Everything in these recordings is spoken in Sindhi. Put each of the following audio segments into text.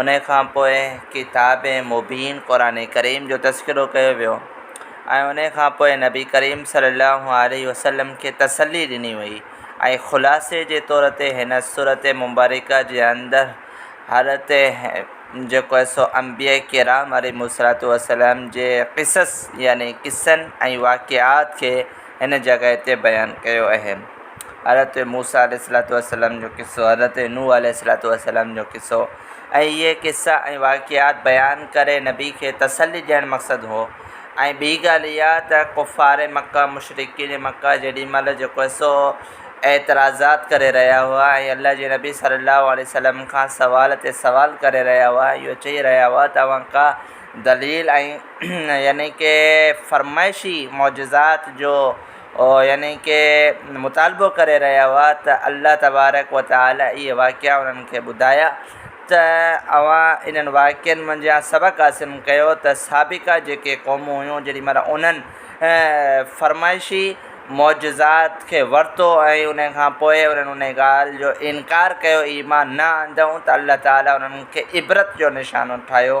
ان کان پوء ڪتاب مبين قرآن ڪريم جو تذڪرو ڪيو ويو ۽ ان کان پوء نبي ڪريم صلّي اللّٰه عليه وسلّم کي تسلّي ڏني وئي ۽ خلاصي جي طور تي هن سورت مبارڪه جي اندر حضرت جيڪو آهي سو انبياء ڪرام عليهم الصلّوة والسلام جي قصص يعني قصّن ۽ واقعات کي هن جڳهه تي بيان ڪيو اهي حضرت موسيٰ عليه الصلوة والسلام جو قصو، حضرت نوح عليه الصلوة والسلام جو قصو ۽ اهي قصا ۽ واقعات بيان ڪري نبي کي تسلي ڏيڻ مقصد هو ۽ ٻي ڳالهه اها ته ڪفار مڪه، مشرڪين مڪه جيڏي مهل جيڪو سو اعتراضات ڪري رهيا هئا ۽ الله جي نبي صلّي اللّٰه عليه وسلّم کان سوال تي سوال ڪري رهيا هئا ۽ اهو چئي رهيا هئا ته اوهان ڪا دليل ۽ يعني ڪي فرمائشي معجزات جو يعني ڪي مطالبو ڪري رهيا هئا ته الله تبارڪ و تعالٰي اهي واقعا انهن کي ٻڌايا ته اوهان انهن واقعن منجهان سبق حاصل ڪيو ته سابقا جيڪي قومون هيون جيڏي مهل انهن فرمائشي معجزات کي ورتو ۽ ان کان پوء انهن ان ڳالهه جو انڪار ڪيو ايمان نه آندائون ته الله تعالٰي انهن کي عبرت جو نشانو ٺاهيو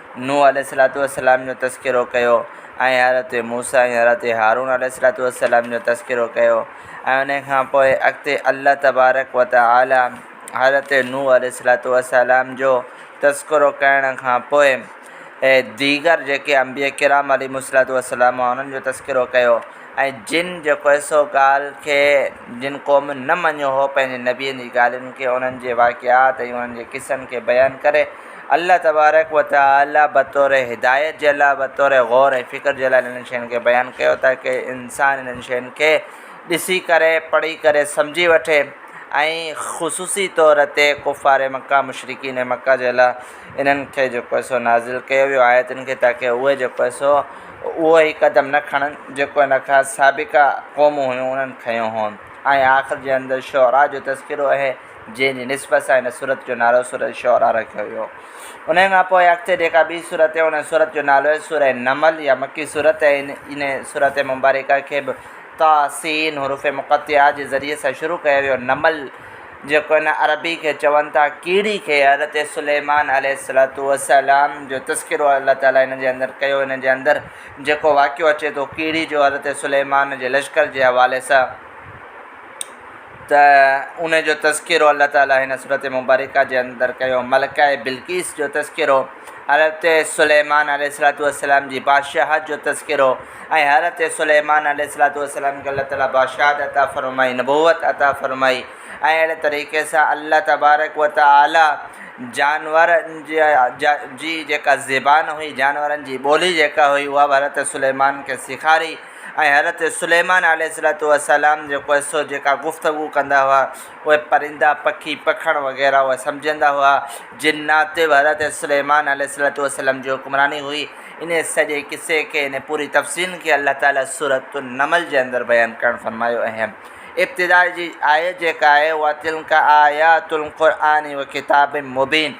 نوح عليه الصلوة والسلام جو تذڪرو ڪيو ۽ حضرت موسيٰ ۽ حضرت هارون عليه الصلوة والسلام جو تذڪرو ڪيو ۽ انهي کان پوء اڳتي الله تبارڪ و تعالي حضرت نوح عليه الصلوة والسلام جو تذڪرو ڪرڻ کان پوء ديگر جيڪي انبياء ڪرام عليهم الصلوة والسلام هئا انهن جو تذڪرو ڪيو ۽ جن جيڪو هي سو ڳالهه کي جن قوم نه مڃيو هو پنهنجي نبين جي ڳالهين کي انهن جي واقعات ۽ انهن جي قصن کي بيان ڪري الله تبارڪ و تعالي بطور هدايت جي الله بطور غور ۽ فڪر جي الله انهن شين کي بيان ڪيو تاڪه انسان انهن شين کي ڏسي ڪري پڙهي ڪري سمجهي وٺي ۽ خصوصي طور تي ڪفار مڪه مشرڪين مڪه جي الله انهن کي جيڪو آهي سو نازل ڪيو ويو آيتن کي تاڪه اهي جيڪو آهي سو اهو هي قدم نه کڻن جيڪو ان کان سابقه قومون هيون انهن کنيو هو ۽ آخر جي اندر شعراء جو تذڪرو اهي جنهن جي نسبت سان هن سورت جو نالو سورة الشعراء رکيو ويو. انهيء کان پوء اڳتي جيڪا ٻي سورت اهي انهن سورت جو نالو اهي سورة النمل يا مڪي سورت ۽ انهيء سورت مبارڪه کي به طٰ، سين، حروف مقطعات جي ذريعي سان شروع ڪيو ويو. نمل جيڪو هن عربي کي چون ٿا ڪيڙي کي حضرت سليمان عليه الصلوة والسلام جو تذڪرو الله تعاليٰ هن جي اندر ڪيو. هن جي اندر جيڪو واقعو اچي ٿو ڪيڙي جو حضرت سليمان جي لشڪر جي حوالي سان. ته ان جو تذڪرو الله تعاليٰ هن سورة مبارڪه جي اندر ڪيو. ملڪه بلقيس جو تذڪرو، حضرت سليمان عليه الصلوة والسلام جي بادشاهت جو تذڪرو ۽ حضرت سليمان عليه الصلوة والسلام کي الله تعاليٰ بادشاهت عطا فرمائي، نبوت عطا فرمائي ۽ اهڙي طريقي سان الله تبارڪ و تعاليٰ جانورن جي جيڪا زبان هئي، جانورن جي ٻولي جيڪا هئي، اها به حضرت سليمان کي سيکاري. ۽ حضرت سليمان عليه الصلوة والسلام جو قصو جيڪا گفتگو ڪندا هئا اهي پرندا، پکي، پکڻ وغيره اهي سمجهندا هئا، جنات تي به حضرت سليمان عليه الصلوة والسلام جي حڪمراني هئي، انهي سڄي قصي کي انهي پوري تفصيل کي الله تعالي سورة النمل جي اندر بيان ڪرڻ فرمايو اهم ابتدا جي آيت جيڪا آهي اها تلڪ آيات القرآن وڪتاب مبين،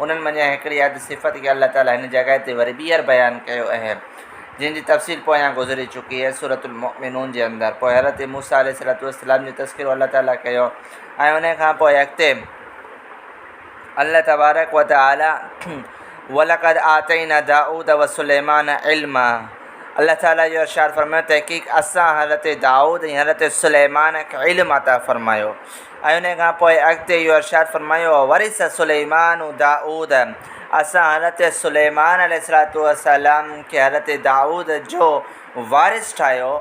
انهن منجهان هڪڙي اڌ صفت کي الله تعاليٰ هن جڳهه تي وري ٻيهر بيان ڪيو اهي، جن جي تفصيل پويان گذري چڪي اهي سورة المؤمنون جي اندر. پوء حضرت موسيٰ عليه الصلاة والسلام جو تذڪرو الله تعاليٰ ڪيو ۽ انهيء کان پوء اڳتي الله تبارڪ وتعاليٰ ولقد آتينا داؤد وسليمان علما الله تعاليٰ اهو ارشاد فرمايو تحقيق اسان حضرت دائود ۽ حضرت سليمان کي علم عطا فرمايو. ۽ انهيء کان پوء اڳتي اهو ارشاد فرمايو، وورث سليمان داؤد، اسان حضرت سليمان عليه الصلوة والسلام کي حضرت داؤد جو وارث ٺاهيو،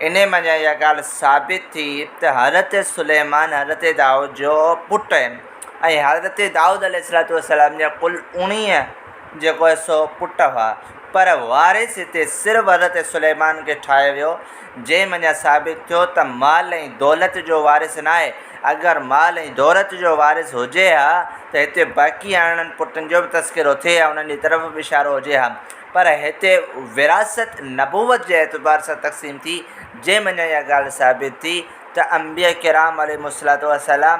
انهيء مان جا اها ڳالهه ثابت ٿي ته حضرت سليمان حضرت داؤد جو پٽ ۽ حضرت داؤد عليه الصلوة والسلام جا ڪل اوڻيهه جيڪو هي سو پٽ هئا، پر وارث هتي صرف حضرت سليمان کي ٺاهيو ويو، جنهن مان اها ثابت ٿيو ته مال ۽ دولت جو وارث ناهي، اگر مال ۽ دولت جو وارث هجي ها ته هتي باقي ارڙهن پٽن جو به تذڪرو ٿئي ها، انهن جي طرف به اشارو هجي ها، پر هتي وراثت نبوت جي اعتبار سان تقسيم ٿي، جنهن مان اها ڳالهه ثابت ٿي ته انبياء ڪرام عليهم الصلوة والسلام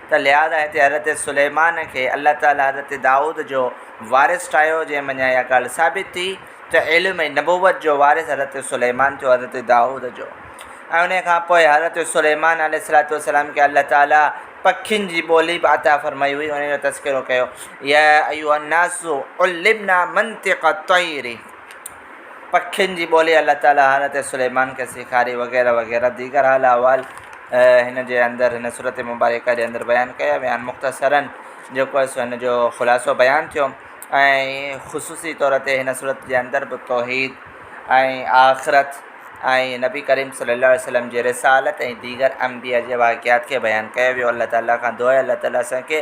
ته لهٰذا هتي حضرت سليمان کي الله تعاليٰ حضرت دائود جو وارث ٺاهيو جنهن منجهان اها ڳالهه ثابت ٿي ته علم ۽ نبوت جو وارث حضرت سليمان ٿيو حضرت دائود جو ۽ انهيء کان پوء حضرت سليمان عليه الصلوة والسلام کي الله تعاليٰ پکين جي ٻولي به عطا فرمائي هئي انهيء جو تذڪرو ڪيو يا ايها الناس علمنا منطق الطير. پکين جي ٻولي الله تعاليٰ حضرت سليمان کي سيکاري وغيره وغيره ديگر حال احوال هن جي اندر هن سورت مبارڪه جي اندر بيان ڪيا ويا آهن مختصراً جيڪو هي سو هن جو خلاصو بيان ٿيو ۽ خصوصي طور تي هن سورت جي اندر به توحيد ۽ آخرت ۽ نبي ڪريم صلّي الله عليه وسلّم جي رسالت ۽ ديگر انبياء جي واقعات کي بيان ڪيو ويو الله تعاليٰ کان دعا آهي الله تعاليٰ اسان کي